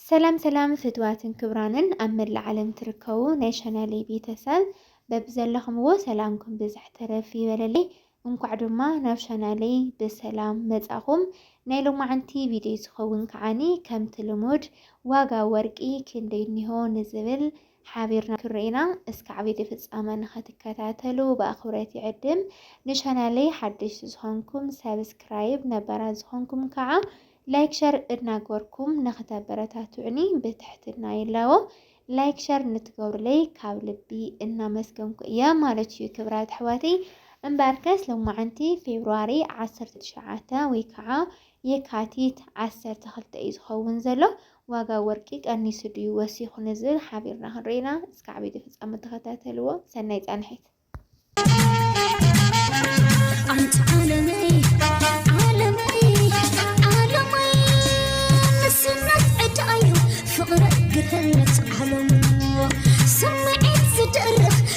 ሰላም ሰላም ፍትዋትን ክብራንን ኣብ መላእ ዓለም ትርከቡ ናይ ቻናለይ ቤተሰብ በብዘለኹምዎ ሰላምኩም ብዝሕ ተረፍ ይበለለይ። እንኳዕ ድማ ናብ ቻናለይ ብሰላም መጻኹም። ናይ ሎማዓንቲ ቪድዮ ዝኸውን ከዓኒ ከምቲ ልሙድ ዋጋ ወርቂ ክንደይ እኒሆ ንዝብል ሓቢርና ክንርኢና እስካዕ ቪድዮ ፍጻመ ንኸትከታተሉ ብኣኽብሮት ይዕድም ንቻናለይ ሓደሽቲ ዝኾንኩም ሳብስክራይብ ነባራት ዝኾንኩም ከዓ ላይክ ሸር እድናገርኩም ንኸተበረታትዑኒ ብትሕትና ይላቦ ላይክ ሸር ንትገብሩለይ ካብ ልቢ እናመስገንኩ እየ ማለት እዩ ክብራት ኣሕዋተይ እምበርከስ ሎማዓንቲ ፌብርዋሪ ዓሰርተ ትሽዓተ ወይ ከዓ የካቲት ዓሰርተ ክልተ እዩ ዝኸውን ዘሎ ዋጋ ወርቂ ቀኒሱ ድዩ ወሲኹ ንዝብል ሓቢርና ክንርኢ ኢና። እስከ ዓበይቲ ፍጻመ ተኸታተልዎ። ሰናይ ጻንሒት።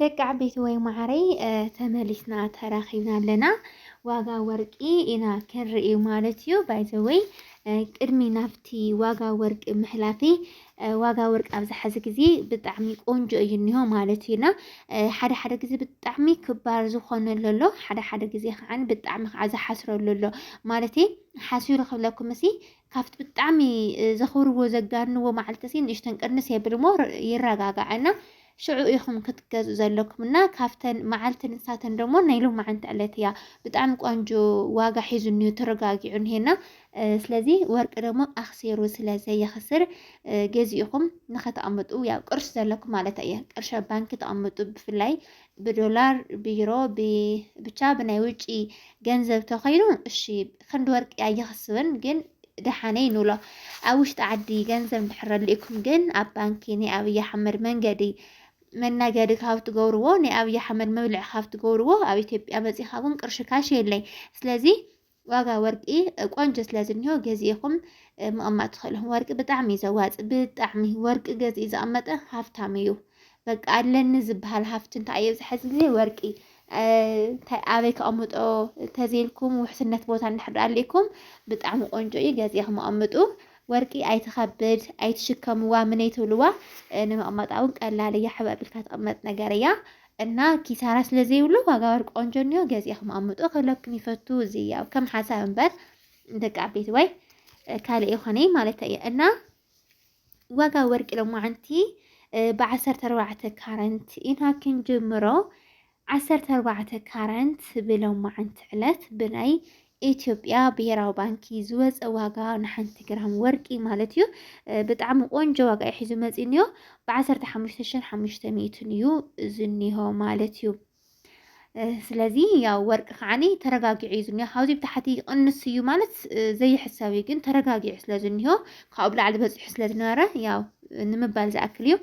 ደቂ ዓበይቲ ወይ ማዓረይ ተመሊስና ተራኺብና ኣለና። ዋጋ ወርቂ ኢና ክንርኢ ማለት እዩ። ባይዘወይ ቅድሚ ናብቲ ዋጋ ወርቂ ምሕላፊ ዋጋ ወርቂ ኣብዚ ሐዚ ግዜ ብጣዕሚ ቆንጆ እዩ እኒሆ ማለት እዩና ሓደ ሓደ ግዜ ብጣዕሚ ክባር ዝኾነሉ ኣሎ፣ ሓደ ሓደ ግዜ ከዓ ብጣዕሚ ከዓ ዝሓስረሉ ኣሎ ማለት ሓሲሩ ክብለኩም እሲ ካብቲ ብጣዕሚ ዘኽብርዎ ዘጋንዎ መዓልቲ እሲ ንእሽተን ቅንስ የብል እሞ ይረጋጋዕ እና ሽዑ ኢኹም ክትገዝኡ ዘለኩም እና ካብተን መዓልቲ ንሳተን ደሞ ናይ ሎማዓንቲ ዕለት እያ ብጣዕሚ ቆንጆ ዋጋ ሒዙ እኒሆ ተረጋጊዑ እኒሄና ስለዚ ወርቂ ደሞ ኣክሴሩ ስለ ዘየኽስር ገዚእኹም ንኸተቐምጡ ያው ቅርሽ ዘለኩም ማለት እየ ቅርሽ ኣብ ባንኪ ተቐምጡ ብፍላይ ብዶላር ብዩሮ ብቻ ብናይ ውጪ ገንዘብ ተኸይኑ እሺ ክንዲ ወርቂ ኣይኽስብን ግን ደሓነይ ንብሎ ኣብ ውሽጢ ዓዲ ገንዘብ እንድሕር ኣልኢኩም ግን ኣብ ባንኪ ናይ ኣብይ ኣሕመድ መንገዲ መናገዲ ካብ ትገብርዎ ናይ ኣብይ ኣሕመድ መብልዒ ካብ ትገብርዎ ኣብ ኢትዮጵያ መፂኻ እውን ቅርሺ ካሽ የለይ ስለዚ ዋጋ ወርቂ ቆንጆ ስለ ዝኒሆ ገዚእኹም ምቕማጥ ትኽእሉ ወርቂ ብጣዕሚ እዩ ዘዋፅ ብጣዕሚ ወርቂ ገዚኡ ዝቐመጠ ሃፍታም እዩ በቃ ኣለኒ ዝበሃል ሃፍቲ እንታይ እዩ ዝሐዚ ግዜ ወርቂ እንታይ ኣበይ ከቐምጦ ተዘይልኩም ውሕስነት ቦታ እንድሕር ኣሊእኩም ብጣዕሚ ቆንጆ እዩ ገዚእኹም ኣቐምጡ። ወርቂ ኣይትኸብድ ኣይትሽከምዋ ምነይ ትብልዋ ንምቕማጣ እውን ቀላል እያ ሕበብ ኢልካ ትቕመጥ ነገር እያ እና ኪሳራ ስለ ዘይብሉ ዋጋ ወርቂ ቆንጆ እኒኦ ገዚእኹም ኣቐምጡ ክብለኩም ይፈቱ እዚ ያው ከም ሓሳብ እምበር ደቂ ዓበይቲ ወይ ካልእ ይኾነይ ማለት እየ እና ዋጋ ወርቂ ሎማዓንቲ ብዓሰርተ ኣርባዕተ ካረንት ኢና ክንጅምሮ ዓሰርተ ኣርባዕተ ካረንት ብሎማዓንቲ ዕለት ብናይ ኢትዮጵያ ብሄራዊ ባንኪ ዝወፀ ዋጋ ንሓንቲ ግራም ወርቂ ማለት እዩ ብጣዕሚ ቆንጆ ዋጋ እዩ ሒዙ መፂኒዮ ብዓሰርተ ሓሙሽተ ሽሕን ሓሙሽተ ሚእትን እዩ ዝኒሆ ማለት እዩ ስለዚ ያው ወርቂ ከዓኒ ተረጋጊዑ እዩ ዝኒሆ ካብዚ ብታሕቲ ይቕንስ እዩ ማለት ዘይሕሰብ እዩ ግን ተረጋጊዑ ስለ ዝኒሆ ካብኡ ብላዕሊ በፂሑ ስለ ዝነበረ ያው ንምባል ዝኣክል እዩ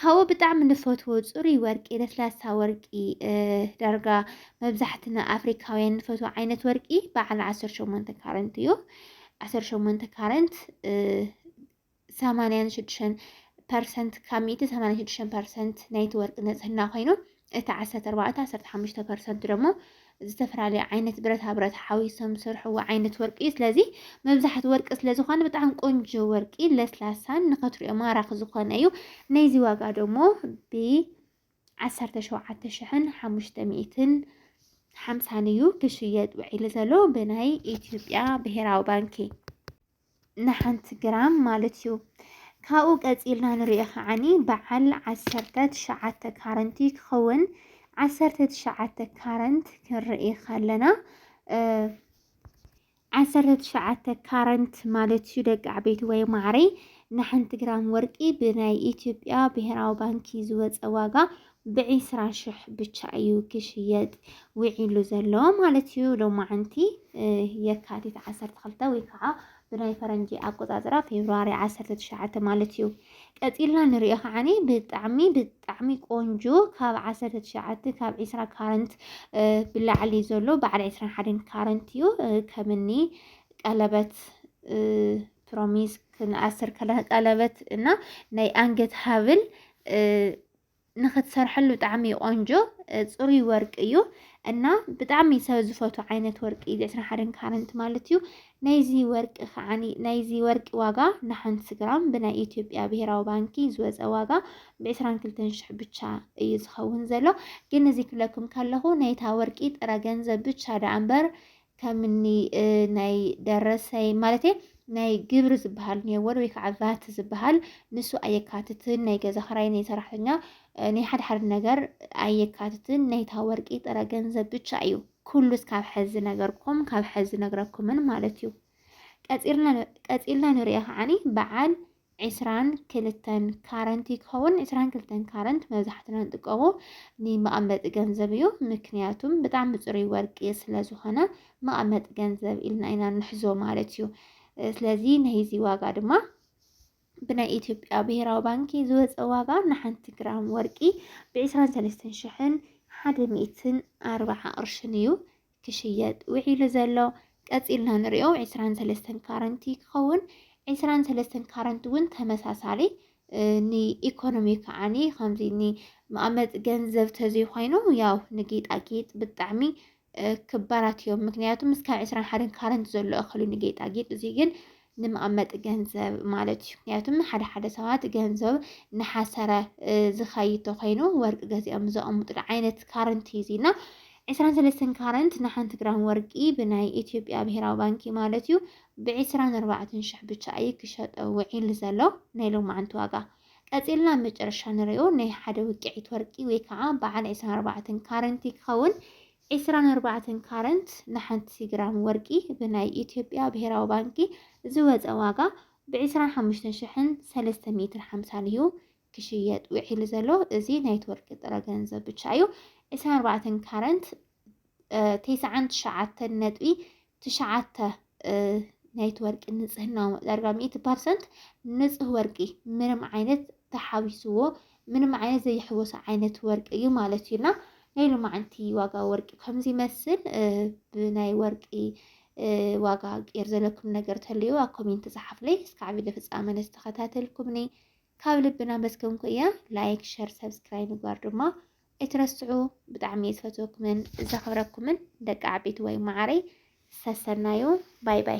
ካብኡ ብጣዕሚ ንፈትዎ ፅሩይ ወርቂ ለስላሳ ወርቂ ዳርጋ መብዛሕትና ኣፍሪካውያን ንፈትዎ ዓይነት ወርቂ በዓል ዓሰርተ ሸሞንተ ካረንት እዩ ዓሰርተ ሸሞንተ ካረንት ሰማንያን ሽዱሽተን ፐርሰንት ካብ ሚእቲ ሰማንያ ሽዱሽተ ፐርሰንት ናይቲ ወርቂ ንጽህና ኮይኑ እቲ ዓሰርተ ኣርባዕተ ዓሰርተ ሓሙሽተ ፐርሰንት ደግሞ ዝተፈላለዩ ዓይነት ብረታ ብረት ሓዊሶም ዝሰርሕዎ ዓይነት ወርቂ እዩ። ስለዚ መብዛሕቲ ወርቂ ስለ ዝኾነ ብጣዕሚ ቆንጆ ወርቂ ለስላሳን ንኸትሪኦ ማራኺ ዝኾነ እዩ። ናይዚ ዋጋ ደግሞ ብዓሰርተ ሸውዓተ ሽሕን ሓሙሽተ ሚእትን ሓምሳን እዩ ክሽየጥ ውዒሉ ዘሎ ብናይ ኢትዮጵያ ብሄራዊ ባንኪ ንሓንቲ ግራም ማለት እዩ። ካብኡ ቀፂልና ንሪኦ ከዓኒ በዓል ዓሰርተ ትሽዓተ ካረንት እዩ ክኸውን ዓሰርተ ትሽዓተ ካረንት ክንርኢ ከለና ዓሰርተ ትሽዓተ ካረንት ማለት እዩ ደቂ ዓበይቲ ወይ ማዕረይ ንሓንቲ ግራም ወርቂ ብናይ ኢትዮጵያ ብሄራዊ ባንኪ ዝወፀ ዋጋ ብዒስራ ሽሕ ብቻ እዩ ክሽየጥ ውዒሉ ዘሎ ማለት እዩ። ሎማዓንቲ የካቲት ዓሰርተ ክልተ ወይ ከዓ ብናይ ፈረንጂ ኣቆፃፅራ ፌብርዋሪ ዓሰርተ ትሽዓተ ማለት እዩ። ቀፂልና ንሪኦ ከዓኒ ብጣዕሚ ብጣዕሚ ቆንጆ ካብ ዓሰርተ ትሽዓተ ካብ ዒስራ ካረንት ብላዕሊ ዘሎ በዓል ዒስራን ሓደን ካረንት እዩ ከምኒ ቀለበት ፕሮሚስ ክንኣስር ቀለበት እና ናይ ኣንገት ሃብል ንክትሰርሐሉ ብጣዕሚ እዩ ቆንጆ ፅሩይ ወርቂ እዩ እና ብጣዕሚ ሰብ ዝፈቱ ዓይነት ወርቂ እዩ ዕስራን ሓደን ካረንት ማለት እዩ ናይዚ ወርቂ ከዓኒ ናይዚ ወርቂ ዋጋ ንሓንቲ ግራም ብናይ ኢትዮጵያ ብሄራዊ ባንኪ ዝወፀ ዋጋ ብዕስራን ክልተን ሽሕ ብቻ እዩ ዝኸውን ዘሎ ግን እዚ ክብለኩም ከለኹ ናይታ ወርቂ ጥረ ገንዘብ ብቻ ደኣ እምበር ከምኒ ናይ ደረሰይ ማለት ናይ ግብሪ ዝበሃል ኔወር ወይ ከዓ ቫት ዝበሃል ንሱ ኣየካትትን። ናይ ገዛ ክራይ፣ ናይ ሰራሕተኛ፣ ናይ ሓደ ሓደ ነገር ኣየካትትን። ናይታ ወርቂ ጥረ ገንዘብ ብቻ እዩ። ኩሉ ካብ ሕዚ ነገርኩም ካብ ሕዚ ነግረኩምን ማለት እዩ። ቀፂልና ንሪኦ ከዓኒ በዓል ዕስራን ክልተን ካረንት እዩ ክኸውን። ዕስራን ክልተን ካረንት መብዛሕትና ንጥቀሙ ንመቐመጢ ገንዘብ እዩ። ምክንያቱም ብጣዕሚ ፅሩይ ወርቂ ስለ ዝኾነ መቐመጢ ገንዘብ ኢልና ኢና ንሕዞ ማለት እዩ። ስለዚ ናይዚ ዋጋ ድማ ብናይ ኢትዮጵያ ብሄራዊ ባንኪ ዝወፀ ዋጋ ንሓንቲ ግራም ወርቂ ብ23 ሽሕን ሓደ ሚእትን ኣርባዓ ቅርሽን እዩ። ክሽየጥ ውዒሉ ዘሎ ቀፂልና ንሪኦ ዕስራን ሰለስተን ካረንቲ ክኸውን ዕስራን ሰለስተን ካረንቲ እውን ተመሳሳሊ ንኢኮኖሚ ከዓኒ ከምዚ ንመቐመጢ ገንዘብ ተዘይኮይኑ ያው ንጌጣጌጥ ብጣዕሚ ክባራት እዮም። ምክንያቱ ምስ ካብ ዕስራን ሓደን ካረንቲ ዘሎ እኽሉ ንጌጣጌጥ እዚ ግን ንመቐመጢ ገንዘብ ማለት እዩ። ምክንያቱም ሓደ ሓደ ሰባት ገንዘብ ንሓሰረ ዝኸይድ ተኮይኑ ወርቂ ገዚኦም ዘቐምጡሉ ዓይነት ካረንቲ እዩ እዚና ዕስራን ሰለስተን ካረንት ንሓንቲ ግራም ወርቂ ብናይ ኢትዮጵያ ብሄራዊ ባንኪ ማለት እዩ ብዕስራን ኣርባዕተን ሽሕ ብቻ እዩ ክሸጠ ውዒሉ ዘሎ ናይ ሎማዓንቲ ዋጋ። ቀፂልና ኣብ መጨረሻ ንሪኦ ናይ ሓደ ውቅዒት ወርቂ ወይ ከዓ በዓል ዕስራን ኣርባዕተን ካረንቲ ክኸውን ዕስራን ኣርባዕተን ካረንት ንሓንቲ ግራም ወርቂ ብናይ ኢትዮጵያ ብሄራዊ ባንኪ ዝወፀ ዋጋ ብ ዕስራን ሓሙሽተን ሽሕን ሰለስተ ሚእትን ሓምሳን እዩ ክሽየጥ ውዒሉ ዘሎ። እዚ ናይቲ ወርቂ ጥረ ገንዘብ ብቻ እዩ። ዕስራን ኣርባዕተን ካረንት ተስዓን ትሽዓተን ነጥቢ ትሽዓተ ናይቲ ወርቂ ንፅህናዊ ዳርጋ ሚእቲ ፐርሰንት ንፁህ ወርቂ ምንም ዓይነት ተሓዊስዎ ምንም ዓይነት ዘይሕወሶ ዓይነት ወርቂ እዩ ማለት እዩና ናይ ሎማዓንቲ ዋጋ ወርቂ ከምዚ ይመስል ብናይ ወርቂ ዋጋ ቄር ዘለኩም ነገር ተልዩ ኣብ ኮሜንት ፀሓፍለይ እስካዕ ቪድዮ ፍፃመ ነስተኸታተልኩምኒ ካብ ልብና መስገንኩ እያ ላይክ ሸር ሰብስክራይብ ምግባር ድማ ኣይትረስዑ ብጣዕሚ እየ ዝፈትወኩምን ዘኽብረኩምን ደቂ ዓበይቲ ወይ ማዓረይ ሰሰናዩ ባይ ባይ